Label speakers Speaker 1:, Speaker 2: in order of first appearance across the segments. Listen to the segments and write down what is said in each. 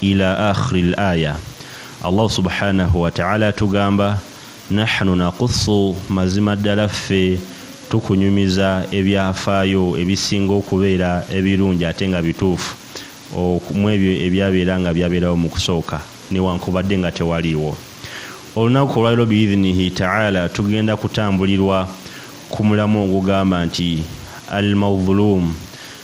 Speaker 1: ila akhiri l aya allah subhanahu wataala atugamba nahnu nakusu mazima ddala ffe tukunyumiza ebyafaayo ebisinga okubeera ebirungi ate nga bituufu mu ebyo ebyabeera nga byabeerawo mu kusooka newankubadde nga tewaliiwo olunaku olwaliro biidhinihi taala tugenda kutambulirwa ku mulamu ogugamba nti al maudhulumu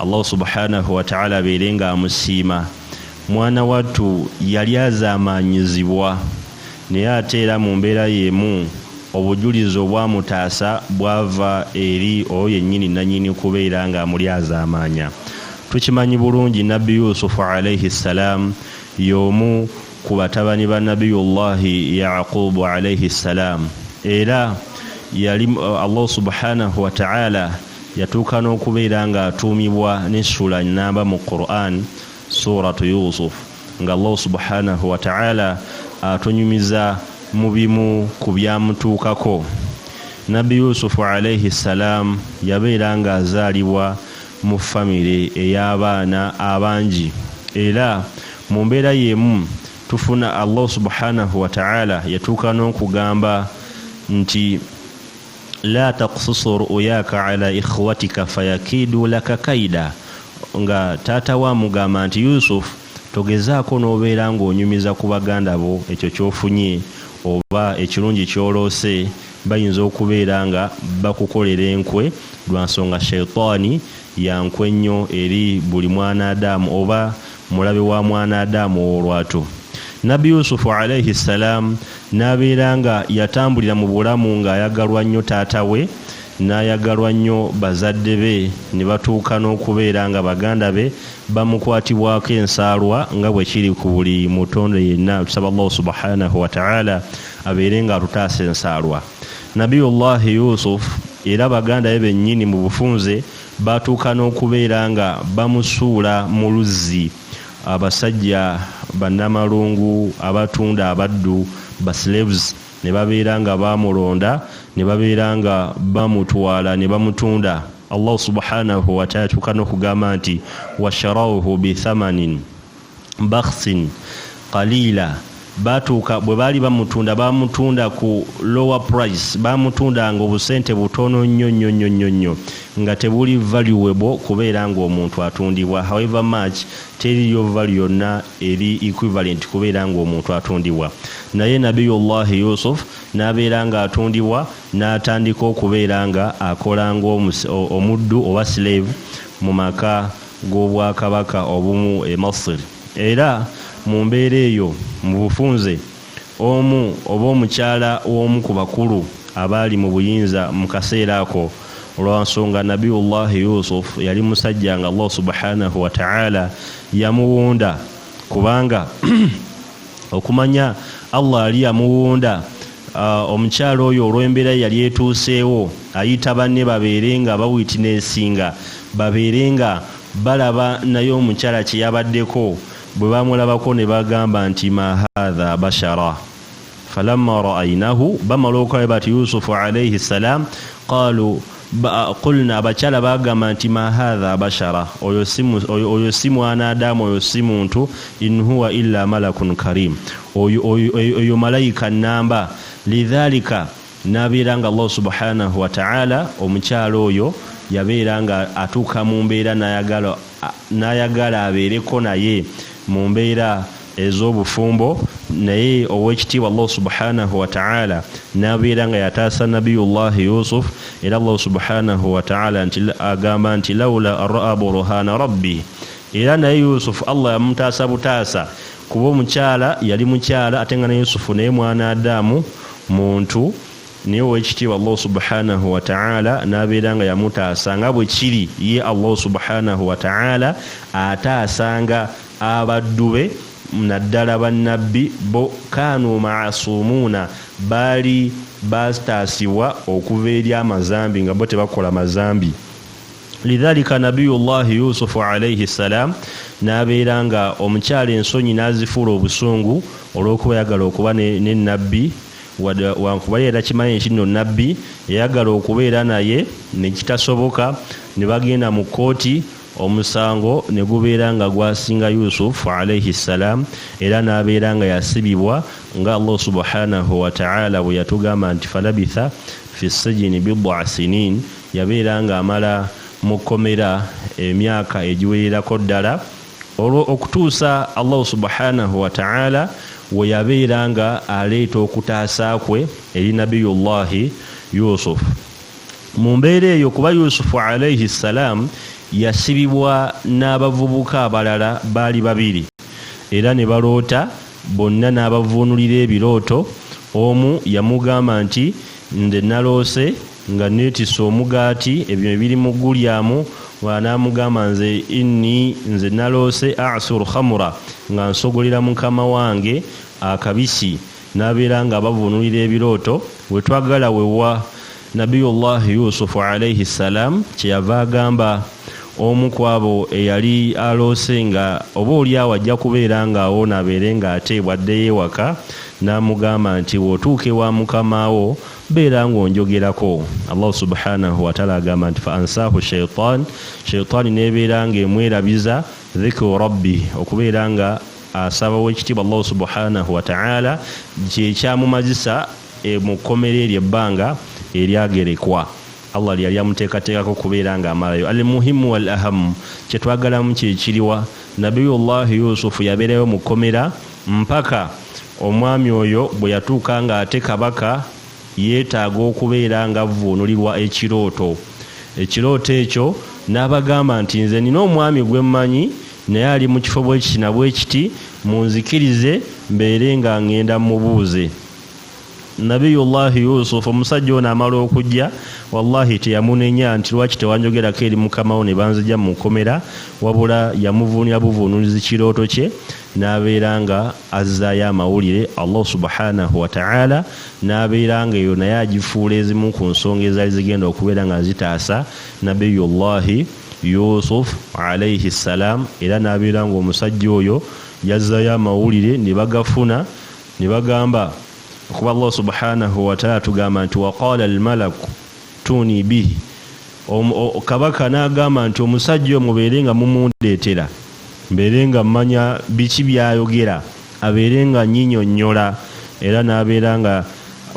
Speaker 1: allah subhanahu wataala abeere nga amusiima mwana wattu yali azaamaanyizibwa naye ate era mu mbeera yeemu obujulizi obwamutaasa bwava eri oyo yennyini nannyini kubeera nga amuli azaamaanya tukimanyi bulungi nabbi yusufu alaihi ssalaamu y'omu ku batabani ba nabiyullahi yaqubu alaihi ssalaamu era yali uh, allah subhanahu wataala Yatuuka n'okubeera ng'atuumibwa n'essula nnamba mu Qur'an, Suuratu Yuusuf, nga Allah subhaanahu wa ta'aala atunyumiza mu bimu ku byamutuukako. Nabbi Yuusufu alaihi salaam yabeera ng'azaalibwa mu famire ey'abaana abangi era mu mbeera y'emu tufuna Allah subhaanahu wa ta'aala yatuuka n'okugamba nti, la takususu ru'uyaka ala ikhwatika fayakidu laka kaida nga taata we amugamba nti yusuf togezaako n'obeera ng'onyumiza ku baganda bo ekyo ky'ofunye oba ekirungi ky'oloose bayinza okubeera nga bakukolera enkwe lwa nsonga shaitaani yankwe nnyo eri buli mwana adaamu oba mulabe wa mwana Adaamu ow'olwatu. Nabbi Yusufu alaihi ssalaam n'abeera nga yatambulira mu bulamu ng'ayagalwa nnyo taata we n'ayagalwa nnyo bazadde be ne batuuka n'okubeera nga baganda be bamukwatibwako ensaalwa nga bwe kiri ku buli mutonde yenna. Tusaba Allahu subhanahu wa ta'ala abeere ng'atutaasa ensaalwa. Nabiyullahi Yusuf era baganda be bennyini mu bufunze Baatuuka n'okubeera nga bamusuula mu luzzi abasajja bannamalungu abatunda abaddu, baslaves, ne babeera nga bamulonda ne babeera nga bamutwala ne bamutunda, Allahu subhaanahu wataala yatuuka n'okugamba nti, Washarawuhu bithamanin. bakhsin qaliila baatuuka bwe baali bamutunda baamutunda ku lower price baamutunda nga obusente butono nnyo nnyo nnyo nnyo nnyo nga tebuli valuable kubeera ng'omuntu atundibwa however much teriyo valu yonna eri equivalent kubeera ng'omuntu atundibwa naye nabiyullahi yusuf n'abeera ng'atundibwa n'atandika okubeera nga akola ng'omuddu oba slave mu maka g'obwakabaka obumu e Masr, era mu mbeera eyo, mu bufunze, omu oba omukyala w'omu ku bakulu abaali mu buyinza mu kaseera ako, lwa nsonga Nabiyullahi Yusuf yali musajja nga Allah subhaanahu wa ta'aala yamuwunda, kubanga. okumanya allah ali yamuwunda uh, omukyala oyo olw'embeera ye yali etuuseewo ayita banne babeere nga bawitinesinga babeere nga balaba naye omukyala kye yabaddeko bwe bamulabako ne bagamba nti mahaadha bashara falamma raainahu bamala okulaba bati yusufu alaihi ssalam qaalu Qulna abakyala baagamba nti ma haadha bashara oyo si mwana Adamu oyo si muntu in huwa illa malakun karim oyo malayika nnamba lidhalika n'abeera nga Allah subhanahu wa ta'ala omukyala oyo yabeera nga atuuka mu mbeera n'ayagala abeereko naye mu mbeera ez'obufumbo naye owekitiibwa allahu subhanahu wataala nabeera nga yataasa nabiyullahi yusuf era allahu subhanahu wataala nti agamba nti laula raa burhana rabbi era naye yusufu allah yamutaasa butaasa kuba omukyala yali mukyala ate nga ne yusufu naye mwana adamu muntu naye owekitiibwa allahu subhanahu wataala nabeera nga yamutaasa nga bwe kiri ye allahu subhanahu wataala ataasanga Abaddu be, naddala Bannabbi, bo kaanu ma'asuumuuna, baali baataasibwa okuva eri amazambi nga bo tebakola mazambi. Lidhaalika Nabiyullaahi Yuusufu alaihi ssalaam n'abeera nga omukyala ensonyi n'azifuula obusungu olw'okuba yayagala okuba ne ne Nnabbi wada wankubadde yali takimanyi nti nno Nnabbi, yayagala okubeera naye ne kitasoboka ne bagenda mu kkooti, omusango ne gubeera nga gwasinga yusuf alaihi ssalam era n'abeera nga yasibibwa nga allah subhanahu wataala bwe yatugamba nti falabitha fi sijini bidaa sinin yabeera nga amala mu kkomera emyaka egiwererako ddala olwo okutuusa allahu subhanahu wataala we yabeera nga aleeta okutaasa kwe eri nabiyullahi yusufu mu mbeera eyo kuba yusufu alaihi ssalaamu yasibibwa n'abavubuka abalala baali babiri era ne baloota bonna n'abavuunulira ebirooto omu yamugamba nti nze naloose nga neetisse omugaati ebyo ebiri mu gulyamu n'amugamba nze inni nze naloose asur khamura nga nsogolera mukama wange akabisi nabeera nga abavunulira ebirooto wetwagala wewa nabiyullah yusufu alaihi ssalam kyeyava agamba omu kwabo eyali aloose nga oba olyawo ajja kubeera nga awoona abeere nga ate bwaddeyo ewaka namugamba nti wotuuka ewa mukamawo beera nga onjogerako allahu subhanahu wataala agamba nti fa ansaahu shaitan shaitaani nebeera nga emwerabiza dhikru rabbi okubeera nga Asaba Owekitiibwa Allahu Subuhaanahu Wata'ala kyekyamumazisa mu kkomera eryo ebbanga eryagerekwa Allah lyeyali amuteekateekako okubeera nga amalayo. Al Muhimu Wal Ahamu, kyetwagalamu kyekiriwa? Nabiyullahi Yusufu yabeerayo mu kkomera mpaka omwami oyo bweyatuuka nga ate Kabaka, Yeetaaga okubeera ng'avvuunulirwa ekirooto. Ekirooto ekyo n'abagamba nti, Nze nnina omwami gwe mmanyi, naye ali mu kifo bwe kiti na bwe kiti, munzikirize mbeere nga ng'enda mmubuuze. Nabiyullahi Yusuf omusajja ono amala okujja, wallahi teyamunenya nti lwaki tewanjogerako eri mukama wo ne banzigya mu kkomera, wabula yamuvuunira buvuunulizi kirooto kye. n'abeera nga azzaayo amawulire, Allah subhaanahu wa ta'aala n'abeera nga eyo naye agifuula ezimu ku nsonga ezaali zigenda okubeera nga zitaasa Nabiyullahi Yusuf alaihi ssalaam era n'abeera ng'omusajja oyo yazzaayo amawulire ne bagafuna ne bagamba kuba Allah subhaanahu wa ta'aala tugamba nti waqaala almalaku Tuni bi Omu, o, kabaka n'agamba nti omusajja oyo mubeere nga mumundeetera mbeere nga mmanya biki by'ayogera abeere nga nnyinyonnyola era n'abeera nga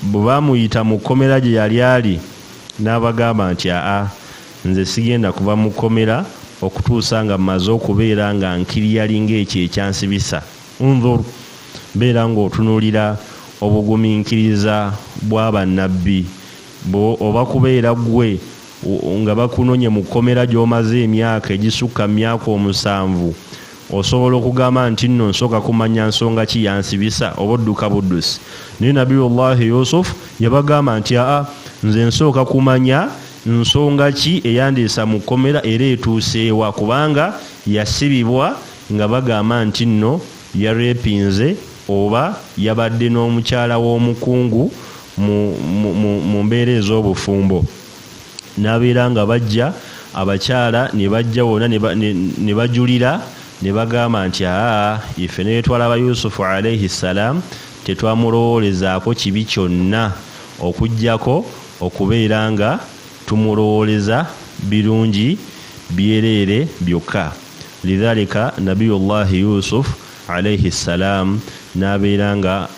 Speaker 1: bwe baamuyita mu kkomera gye yali ali n'abagamba nti aa nze sigenda kuva mu kkomera okutuusa nga mmaze okubeera nga nkiriyali ng'ekyo ekyansibisa undhur beera ng'otunulira obuguminkiriza bwa bannabbi Mbu oba kubeera gwe nga bakunonye mu kkomera gy'omaze emyaka egisukka mu myaka omusanvu, osobola okugamba nti nno nsooka kumanya nsonga ki yansibisa oba odduka buddusi. Naye Nabiyullahi Yusuf yabagamba nti, aa, nze nsooka kumanya nsonga ki eyandeesa mu kkomera era etuuse wa kubanga yasibibwa nga bagamba nti nno yareepinze oba yabadde n'omukyala w'omukungu mu, mu, mu, mu mbeera ez'obufumbo n'abeera nga bajja abakyala ne bajja wona ne bajulira ne bagamba nti aa ife ne bwetwalaba yusufu alaihi ssalaamu tetwamulowoolezaako kibi kyonna okugyako okubeera nga tumulowooleza birungi byereere byokka lidhalika nabiyullahi yusufu alaihi ssalaamu n'abeera nga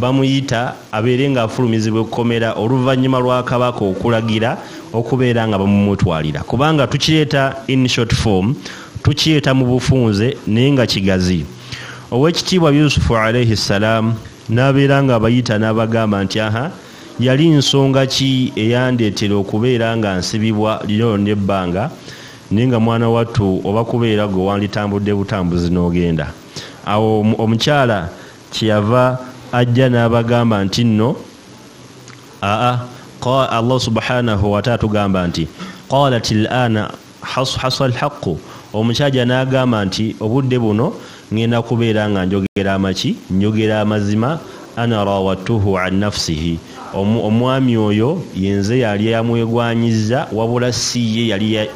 Speaker 1: Bamuyita abeere ng'afulumizibwa ekkomera oluvannyuma lwa Kabaka okulagira okubeera nga bamumutwalira kubanga tukiyeta in short form tukiyeta mu bufunze naye nga kigazi. Ow'ekitiibwa Yusufu alaihi ssalaamu n'abeera ng'abayita n'abagamba nti aha yali nsonga ki eyandeetera okubeera nga nsibibwa lino lyonna ebbanga naye nga mwana wattu oba kubeera ggwe wanditambudde butambuzi n'ogenda awo omukyala kyeyava ajja n'abagamba nti nno aa allah subhanahu wataala tugamba nti qalat lana hasa lhaqu omukyaja n'agamba nti obudde buno ŋŋenda kubeera nga njogera amaki njogera amazima ana rawattuhu an nafsihi omwami oyo yenze yali yamwegwanyiza wabula si ye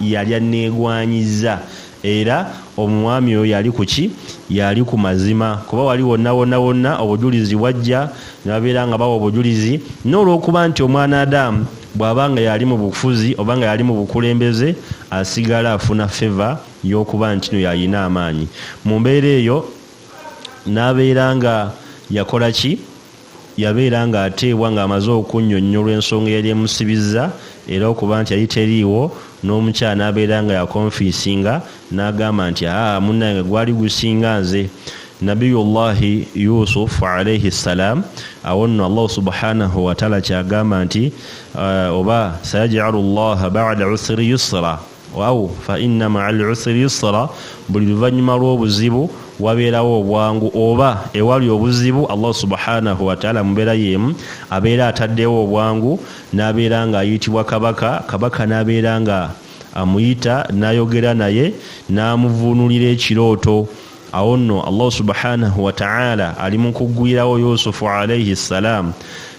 Speaker 1: yali anneegwanyiza Era omwami oyo yali ku ki? Yali ku mazima, kuba wali wonna wonna wonna obujulizi bwajja, ne babeera nga bawa obujulizi. N'olw'okuba nti Omwanadamu bw'aba nga y'ali mu bufuzi oba nga y'ali mu bukulembeze, asigala afuna favour y'okuba nti no y'alina amaanyi. Mu mbeera eyo, n'abeera nga yakola ki? Yabeera ng'ateebwa ng'amaze okunnyonnyolwa ensonga eyali emusibizza era okuba nti yali teriiwo n'omukyala n'abeera nga yakonfiisinga n'agamba nti, Haa, munnange gwali gusinga nze! Nabiyullahi Yusuf, alaihi salaam, Awo nno Allahu subhaanahu wataala ky'agamba nti, Oba, Sayaji'alu Llaaha ba'da usri yusra. au fa inna maa al usri yusra buli luvannyuma lw'obuzibu wabeerawo obwangu oba ewali obuzibu allah subhanahu wataala mubeera yeemu abeera ataddewo obwangu n'abeera ng'ayitibwa kabaka kabaka n'abeera nga amuyita n'ayogera naye n'amuvuunulira ekirooto awo nno allahu subhanahu wataala ali mu kugwirawo yusufu alaihi ssalaamu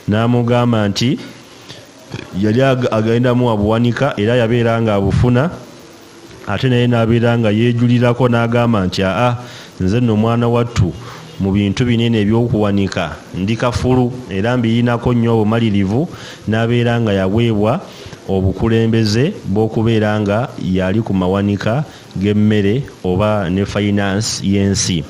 Speaker 1: n'amugamba nti yali agendamu abuwanika era yabeera nga abufuna ate naye n'abeera nga yeejulirako n'agamba nti aa nze nno omwana wattu mu bintu binene ebyokuwanika ndi kafulu era mbiyinako nnyo obumalirivu n'abeera nga yaweebwa obukulembeze bw'okubeera nga yali ku mawanika g'emmere oba ne fayinansi y'ensi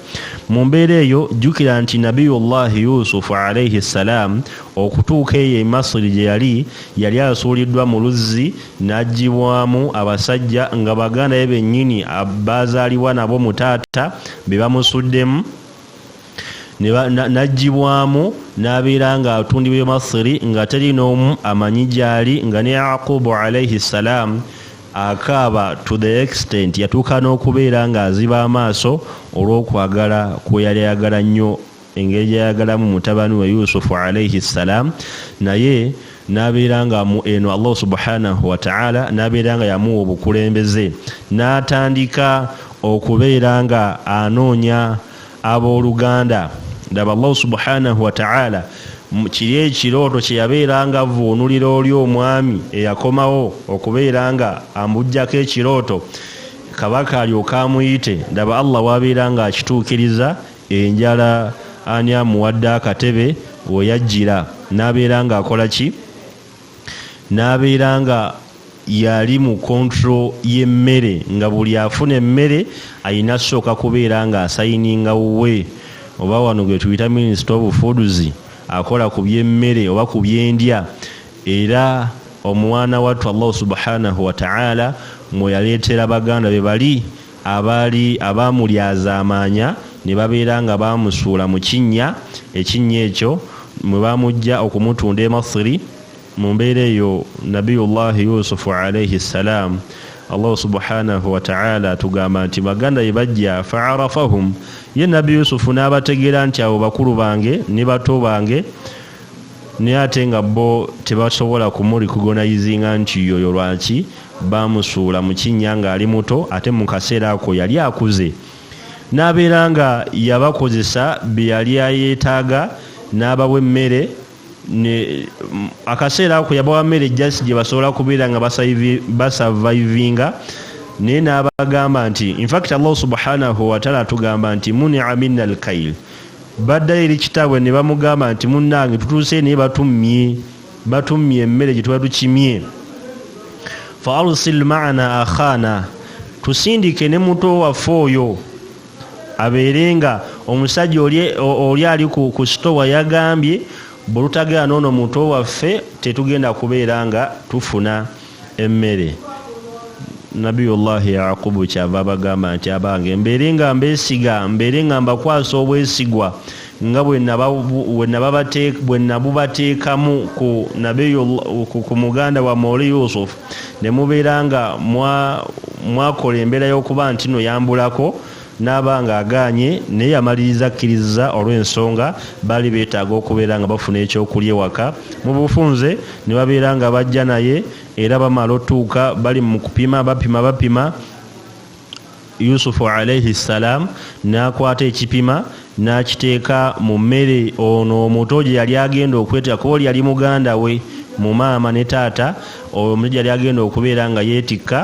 Speaker 1: mu mbeera eyo jjukira nti nabiyullahi yusufu alaihi ssalaamu okutuuka eyo e masiri gye yali yali asuuliddwa mu luzzi n'aggibwamu abasajja nga baganda be bennyini baazaalibwa nabo mu taata be bamusuddemu najjibwamu n'abeera nga atundibwa emasiri nga teri n'omu amanyi gyali nga ne yaqubu alaihi ssalaamu akaaba to the extent yatuuka n'okubeera ng'aziba amaaso olw'okwagala kwe yali ayagala nnyo engeri gyayagalamu mutabani we yusufu alaihi ssalaamu naye n'abeera nga mu eno allah subhanahu wataala n'abeera nga yamuwa obukulembeze n'atandika okubeera nga anoonya Abooluganda, ndaba Allahu subhaanahu wa ta'aala kiri ekirooto kye yabeera nga avvuunulira oli omwami eyakomawo okubeera nga ambujjako ekirooto kabaka alyoke amuyite ndaba Allah wabeera nga akituukiriza enjala ani amuwadde akatebe we yajjira n'abeera nga akola ki n'abeera nga yali mu kontro y'emmere nga buli afuna emmere alina sooka kubeera nga asayininga wuwe oba wano gwe tuyita minisita obufuduzi akola ku by'emmere oba ku byendya era omwana wattu allahu subhanahu wataala mwe yaleetera baganda be bali Abaali abaamulyazaamaanya ne babeera nga baamusuula mu kinnya, ekinnya ekyo mwe baamuggya okumutunda e Masiri, mu mbeera eyo Nabiyullahi Yusufu alaihi ssalaam, Allahu subhaanahu wa ta'aala atugamba nti baganda be bajja, fa'arafahum, ye Nabbi Yusufu n'abategeera nti abo bakulu bange ne bato bange, naye ate nga bo tebasobola kumurikugonayizinga nti yoyo lwaki bamusuula mu kinnya ng'ali muto ate mu kaseera ako yali akuze n'abeera nga yabakozesa bye yali ayeetaaga n'abawa emmere akaseera ako yabawa mmere jasi gye basobola kubeera nga basavayivinga naye n'abagamba nti infact allah subhanahu wataala atugamba nti munia minna alkail Baddayo eri kitaabwe ne bamugamba nti, Munnange, tutuuse naye batummye, batummye emmere gye tuba tukimye. Fa arsil ma'ana akhaana, tusindike ne muto waffe oyo abeere nga omusajja oli ali ku sitowa yagambye bwe tutagenda n'ono muto waffe tetugenda kubeera nga tufuna. emmere nabiyullahi yaqubu kyava abagamba nti abange mbeere nga mbesiga mbeere nga mbakwasa obwesigwa nga bwe nabubateekamu ku muganda wa mooli yusufu ne mubeera nga mwakola embeera y'okuba nti no yambulako N'aba nga agaanye, naye yamaliriza akkirizza olw'ensonga baali beetaaga okubeera nga bafuna eky'okulya ewaka. Mu bufunze, ne babeera nga bajja naye, era bamala otuuka bali mu kupima, bapima, bapima, Yusufu Alaihi Ssalaam n'akwata ekipima n'akiteeka mu mmere ono omuto gye yali agenda okwetikka, kuba oli yali muganda we mu maama ne taata, oyo omuto gye yali agenda okubeera nga yeetikka.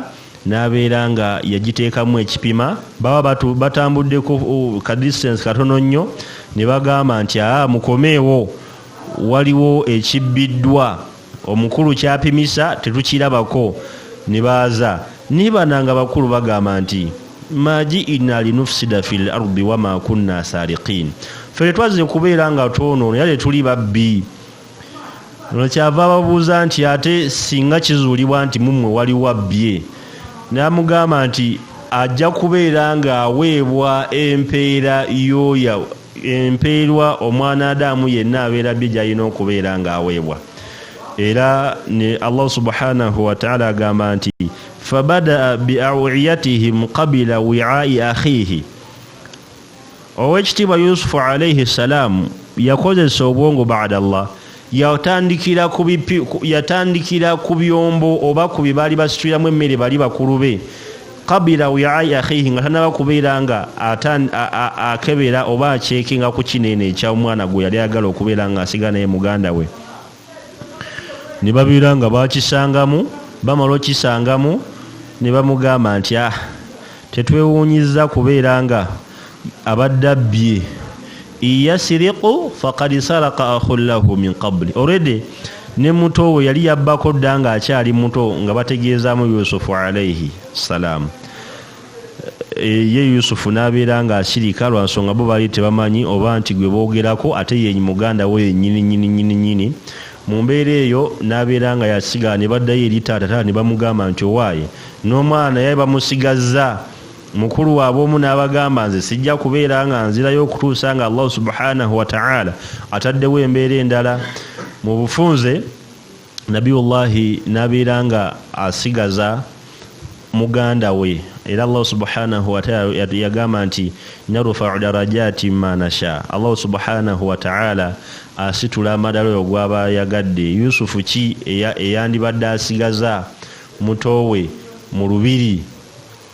Speaker 1: n'abeera nga yagiteekamu ekipima baba batambuddeko oh, ka distance katono nnyo ne bagamba nti aa mukomeewo waliwo ekibbiddwa omukulu kyapimisa tetukirabako ne baaza naye bana nga bakulu bagamba nti maji ina linufsida fi l ardi wama kunna sarikin ffe tetwazze kubeera nga twonoono era tetuli babbi lwekyava ababuuza nti ate singa kizuulibwa nti mummwe waliwo abbye n'amugamba nti ajja kubeera ng'aweebwa empeera yoya empeerwa omwana adaamu yenna abeera bye gy'alina okubeera ng'aweebwa era ne allah subhanahu wataala agamba nti fabadaa biawiyatihim kabila wiai akhihi Owekitiibwa Yusufu alaihi salaamu yakozesa obwongo bada Allah yatandikira ku bipi yatandikira ku byombo oba ku bye baali basituliramu emmere bali bakulu be kabira wiai akhihi nga tanaba kubeera nga akebera oba akyekinga ku kino eno ekya omwana gwe yali ayagala okubeera nga asigala naye muganda we ne babeera nga bakisangamu bamala okisangamu ne bamugamba nti a ah, tetwewuunyizza kubeera nga abadde abbye iyasiriqu fakad saraka ahun lahu min qabli oredi ne muto we yali yabbako dda ng'akyali muto nga bategeezaamu yusufu alaihi salaamu Eh, ye yusufu n'abeera ng'asirika lwa nsonga bo baali tebamanyi oba nti gwe boogerako ate ye muganda we yennyini nyini nyini nyini mu mbeera eyo n'abeera nga yasigala ne baddayo eri taata taata ne bamugamba nti owaaye n'omwana yaye bamusigazza mukulu waabwe omu n'abagamba nze sijja kubeera nga nzirayo okutuusa nga allahu subhanahu wataala ataddewo embeera endala mu bufunze nabiyullahi nabeera nga asigaza muganda we era allahu subhanahu wataala yagamba nti narufau darajati manasha allahu subhanahu wataala asitula amadala oyo gwaba yagadde yusufu ki eyandibadde asigaza mutowe mu lubiri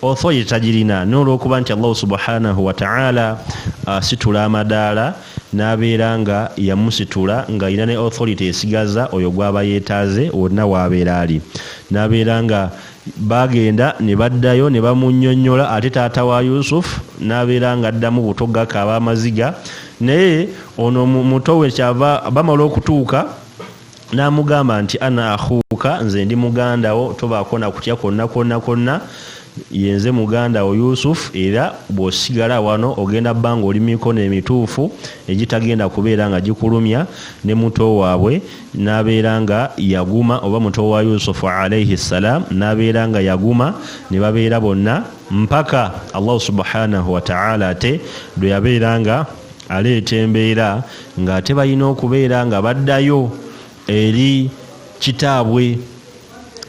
Speaker 1: authority tagirina n'olwokuba nti allahu subhanahu wataala asitula uh, amadaala n'abeera nga yamusitula ng'alina ne authority esigaza oyo gwaba yeetaaze wonna waabeera ali n'abeera nga bagenda ne baddayo ne bamunyonyola ate taata wa yusuf n'abeera nga addamu buto gakaaba amaziga naye ono muto we kyava bamala okutuuka N'amugamba nti, Ana ahuuka, nze ndi muganda wo, tobaako na kutya kwonna kwonna kwonna, ye nze muganda wo Yusuf, era bw'osigala wano ogenda kuba ng'oli mu mikono emituufu egitagenda kubeera nga gikulumya, ne muto waabwe n'abeera nga yaguma, oba muto wa Yusuf alaihi salaam n'abeera nga yaguma, ne babeera bonna mpaka Allahu subhaanahu wa ta'aala ate lwe yabeera nga aleeta embeera. ng'ate balina okubeera nga baddayo eri kitaabwe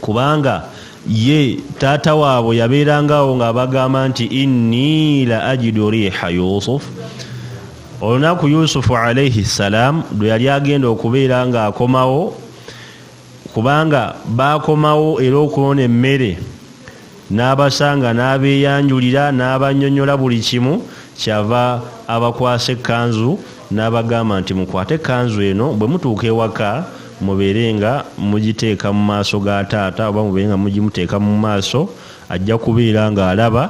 Speaker 1: kubanga ye taata waabwe yabeerangawo ng'abagamba nti inni la ajidu riiha yusuf olunaku yusufu alaihi ssalaamu lwe yali agenda okubeera ng'akomawo Kubanga baakomawo era okwona emmere n'abasanga n'abeeyanjulira n'abannyonnyola buli kimu, ky'ava abakwasa ekkanzu n'abagamba nti, Mukwate ekkanzu eno, bwe mutuuka ewaka mubeere nga mugiteeka mu maaso ga taata oba mubeere nga mugimuteeka mu maaso, ajja kubeera ng'alaba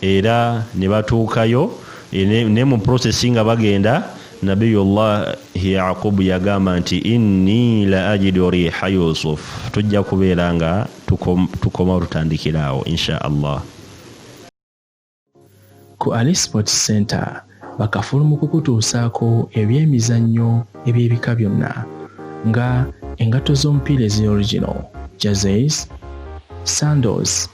Speaker 1: era ne batuukayo ne mu process nga bagenda nabiyullahi yaqubu yagamba nti inni la ajidu riha yusuf tujja kubeera nga tukoma tutandikira awo insha allah
Speaker 2: ku ali sports center bakafulu mu kukutuusaako ebyemizannyo eby'ebika byonna nga engatto z'omupiira ezi original jazes sandos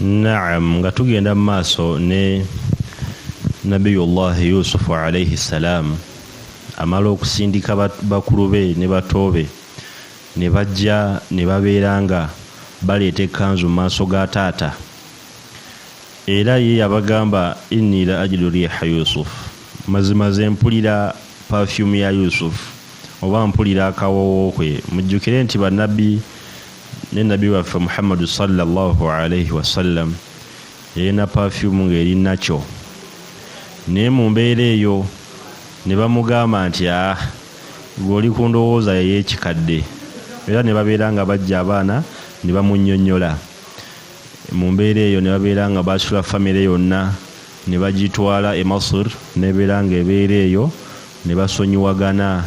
Speaker 1: naam nga tugenda mu maaso ne nabiyullahi yusufu alaihi ssalaamu amala okusindika bakulu be ne batoobe ne bajja ne babeera nga baleeta ekkanzu mu maaso ga taata era ye yabagamba inni la ajidu riiha yusufu mazima ze mpulira pafyumu ya yusufu oba mpulira akawoowo kwe mujjukire nti bannabbi ne nabbi waffe muhammadu sallallahu alaihi wasallam yalina pafyumu ng'eri nakyo naye mu mbeera eyo ne bamugamba nti a ah, gweoli ku ndowooza yeyekikadde era ne babeera nga bajja abaana ne bamunyonyola mu mbeera eyo ne babeera nga basula famire yonna ne bagitwala e masur nebeera nga ebeera eyo ne basonyiwagana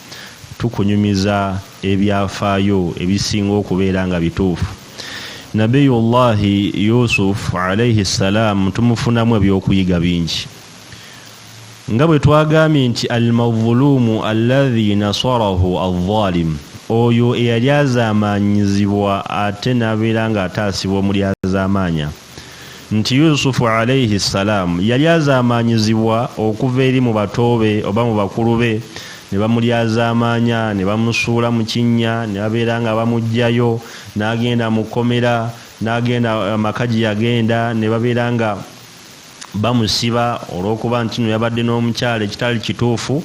Speaker 1: tukunyumiza ebyafaayo ebisinga okubeera nga bituufu. Nabiyullahi Yusuf alaihi ssalaamu tumufunamu ebyokuyiga bingi. Nga bwe twagambye nti Al-Mazuluumu alladhi nasarahu al-Zalimu, oyo eyalyazaamaanyizibwa ate n'abeera ng'ataasibwa omulyazaamaanya. nti Yusufu alaihi salaam yali azaamaanyizibwa okuva eri mu bato be oba mu bakulu be ne bamulyazaamaanya ne bamusuula mu kinnya ne babeera nga bamuggyayo n'agenda mu kkomera n'agenda amaka gye yagenda ne babeera nga bamusiba olw'okuba nti no yabadde n'omukyala ekitali kituufu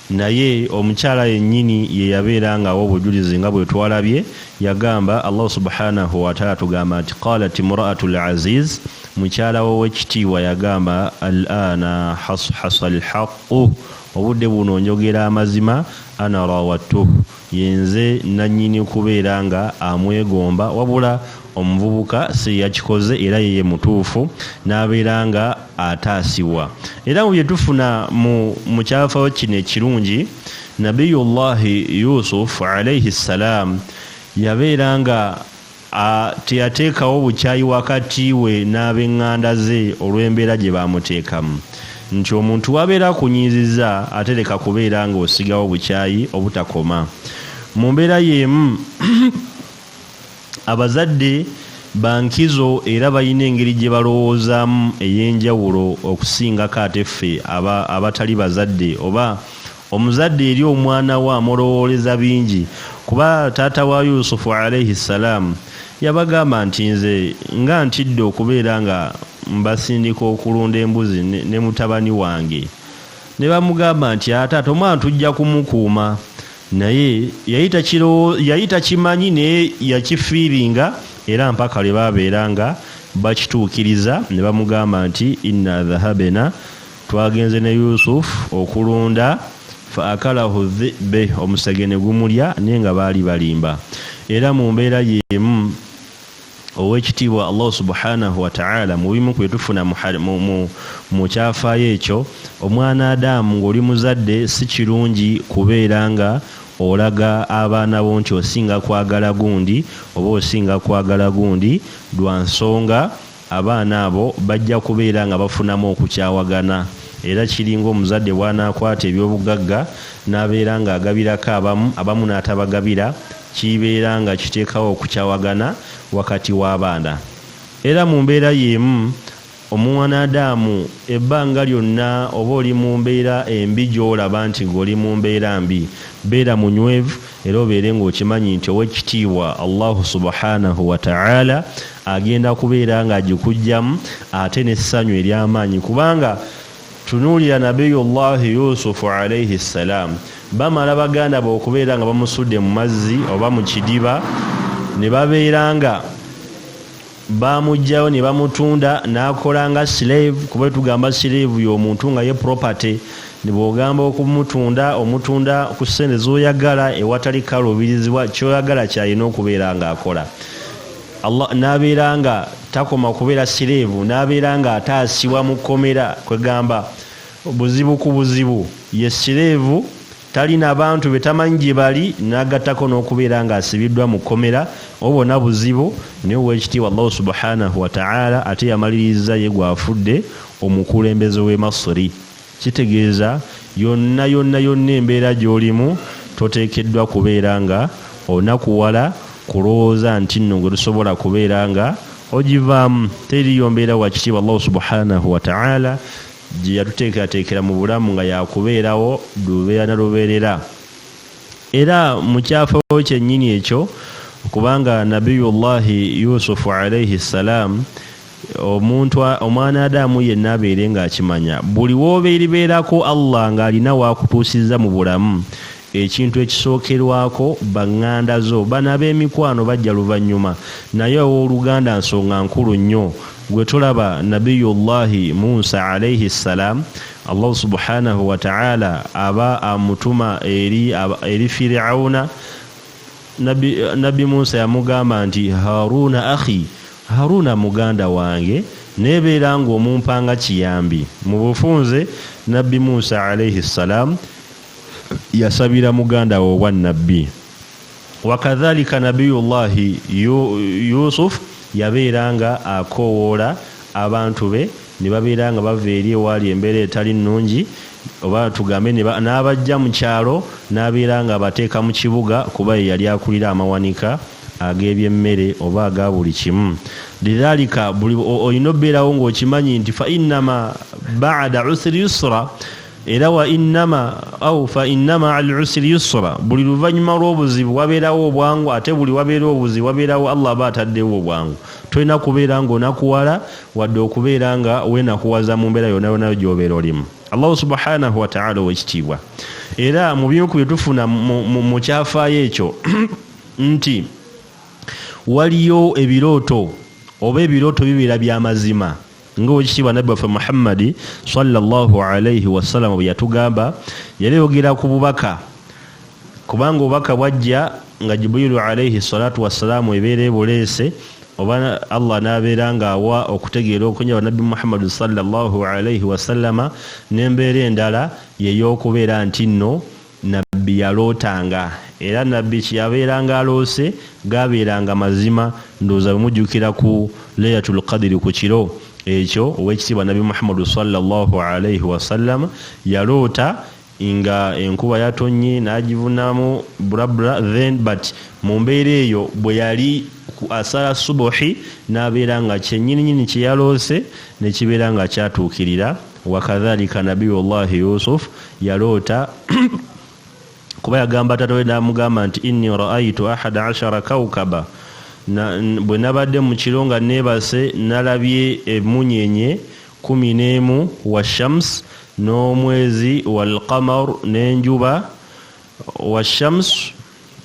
Speaker 1: Naye omukyala yennyini ye yabeera nga awa obujulizi nga bwetwalabye, yagamba, Allah subhaanahu wataala atugamba nti, Qaalat imura'atu Al-Aziiz, mukyala w'owekitiibwa yagamba, Al-aana hashasa Al-haqqu, obudde buno njogera amazima, Ana raawadtuhu, Yenze nannyini kubeera nga amwegomba wabula omuvubuka siyeyakikoze era ye yemutuufu n'abeera nga ataasibwa era mu byetufuna mu mu kyafayo kino ekirungi Nabiyullahi Yusuf alaihi salaam yabeera nga A, Teyateekawo bukyayi wakati we n'ab'eŋŋanda ze olw'embeera gye baamuteekamu. Nti omuntu w'abeera akunyiizizza ate leka kubeera ng'osigawo bukyayi obutakoma. Mu mbeera y'emu, abazadde ba nkizo era balina engeri gye balowoozaamu ey'enjawulo okusingako ate ffe abatali bazadde oba Omuzadde eri omwana we amulowooleza bingi kuba taata wa Yusufu alaihi ssalaam yabagamba nti nze nga ntidde okubeera nga mbasindika okulunda embuzi ne mutabani wange ne bamugamba nti aa taata omwana tujja kumukuuma naye yali takimanyi naye yakifiiringa era mpaka lwe baabeera nga bakituukiriza ne bamugamba nti inna dhahabena Twagenze ne Yusuf okulunda fa akalahu dhibe omusege ne gumulya naye nga baali balimba era mu mbeera y'emu ow'ekitiibwa allahu subhanahu wataala mu bimu ku byetufuna mu kyafaayo ekyo omwana adamu ng'oli muzadde si kirungi kubeera nga olaga abaana bo nti osinga kwagala gundi oba osinga kwagala gundi lwa nsonga Abaana abo bajja kubeera nga bafunamu okukyawagana, era kiringa omuzadde bw'anaakwata eby'obugagga n'abeera ng'agabirako abamu, abamu n'atabagabira, kiibeera nga kiteekawo okukyawagana wakati w'abaana. Era mu mbeera y'emu, Omwanadamu, ebbanga lyonna oba oli mu mbeera embi gy'olaba nti ng'oli mu mbeera mbi, beera munywevu Era obeere ng'okimanyi nti Ow'ekitiibwa Allahu Subhaanahu wa Ta'aala agenda kubeera ng'agikuggyamu ate n'essanyu ery'amaanyi kubanga tunuulira Nabiyullahi Yusufu alaihi ssalaam, bamala baganda be okubeera nga bamusudde mu mazzi oba mu kidiba ne babeera nga. bamujjayo ne bamutunda n'akola nga slave kuba etugamba slave y'omuntu nga ye property ne bw'ogamba okumutunda omutunda ku ssente z'oyagala ewatali kaluubirizibwa ky'oyagala ky'alina okubeera ng'akola allah n'abeera nga takoma kubeera slave n'abeera ng'ataasibwa mu kkomera kwegamba buzibu ku buzibu ye slave tali na bantu be tamanyi gye bali n'agattako n'okubeera ng'asibiddwa mu kkomera obo bona buzibu naye ow'ekitiibwa allahu subhanahu wataala ate yamaliriza ye gw'afudde omukulembeze w'e masiri kitegeeza yonna yonna yonna embeera gy'olimu toteekeddwa kubeera nga onakuwala kulowooza nti nno gwe tusobola kubeera nga ogivaamu teriyo mbeera wakitiibwa allahu subhanahu wataala gye yatuteekerateekera mu bulamu nga yakubeerawo lubeera na lubeerera era mu kyafo kyennyini ekyo kubanga nabiyullahi yusufu alaihi ssalaamu omuntu omwana adamu yenna abeere ng'akimanya buli woobeeribeerako allah ng'alina waakutuusizza mu bulamu Ekintu ekisookerwako ba ŋŋanda zo. Bano ab'emikwano bajja luvannyuma. Naye ow'oluganda nsonga nkulu nnyo. Ggwe tolaba Nabiyyu Llaahi Musa Alaihi Ssalaam, Allahu Subhaanahu wa Ta'aala aba amutuma eri ab, eri Fir'auna? Nabbi, Nabbi Musa yamugamba nti, Haaruuna akhi, Haaruuna muganda wange, naye beera nga omumpanga kiyambi. Mu bufunze, Nabbi Musa Alaihi Ssalaam, yasabira muganda we obwa nabbi wakadhalika nabiyullahi yusuf yabeera nga akoowoola abantu be ne babeera nga bava eri ewaali embeera etali nnungi oba tugambe n'abajja mu kyalo n'abeera nga abateeka mu kibuga kuba ye yali akulira amawanika ag'ebyemmere oba aga buli kimu lidhalika olina obeerawo ng'okimanyi nti fa innama baada usri yusra era wa innama au fa innama al usri yusra buli luvannyuma lw'obuzibu wabeerawo obwangu ate buli wabeera obuzibu wabeerawo allah aba ataddewo obwangu tolina kubeera ng'onakuwala wadde okubeera nga weenakuwaza mu mbeera yonna yonna gy'obeera olimu allahu subhanahu wataala owekitiibwa era mu bimu ku bye tufuna mu kyafaayo ekyo nti waliyo ebirooto oba ebirooto bibeera by'amazima nga owekitiibwa nabbi waffe muhammadi salllahu alaihi wasalama bwe yatugamba yali yogera ku bubaka kubanga obubaka bwajja nga jibrilu alaihi salatu wassalaamu ebeera ebuleese oba allah nabeera ngaawa okutegeera okunyaba nabbi muhammadi salllahu alaihi wasallama nembeera endala yeyokubeera nti nno Nabbi yalootanga, era Nabbi kye yabeeranga aloose gaabeeranga mazima, ndowooza bwe mujjukira ku Laylatul Qadri ku kiro ekyo Oweekitiibwa Nabbi Muhammadu swalla Llaahu alaihi wasallama yaloota nga enkuba yatonnye n'agivunamu brabra then but mu mbeera eyo bwe yali ku asala Subuhi n'abeera nga kyennyininyini kye yaloose ne kibeera nga kyatuukirira. wakadhalika nabiyu llahi yusuf yaloota kuba yagamba tata we namugamba nti inni raaitu ahada ashara kaukaba bwe nabadde mu kiro nga neebase nalabye emunyenye kumi n'emu wa shams n'omwezi walqamar n'enjuba wa shams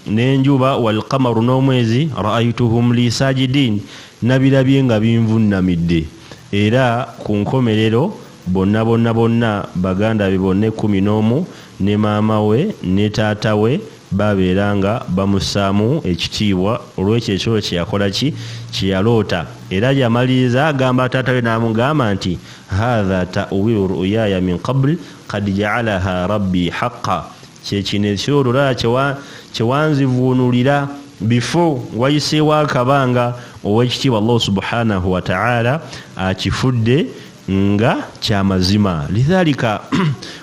Speaker 1: N'enjuba, wal-qamaru, n'omwezi, ra'aytuhum lii saajidiin, nabirabye nga binvunnamidde, era ku nkomerero bonna bonna bonna baganda be bonna ekkumi n'omu ne maama we ne taata we baabeera nga bamussaamu ekitiibwa olw'ekyo ekirooto kye yakola ki? kye yaloota, era yamaliriza agamba taata we n'amugamba nti, haadha ta'uwiilu ru'uyaaya min qabl qad ja'alahaa rabbii haqqa, kyekino ekiro olwo laba kyewanzivuunulira bifo wayiseewo akabanga owekitiibwa allahu subhanahu wataala akifudde nga kyamazima lidhalika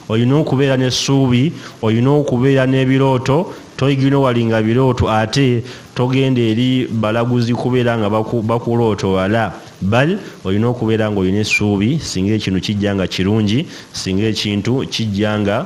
Speaker 1: olina okubeera nesuubi olina okubeera n'ebirooto toigino walinga birooto ate togenda eri balaguzi kubeera nga bakulooto wala bal olina okubeera nga olina esuubi singa ekintu kijja nga kirungi singa ekintu kijja nga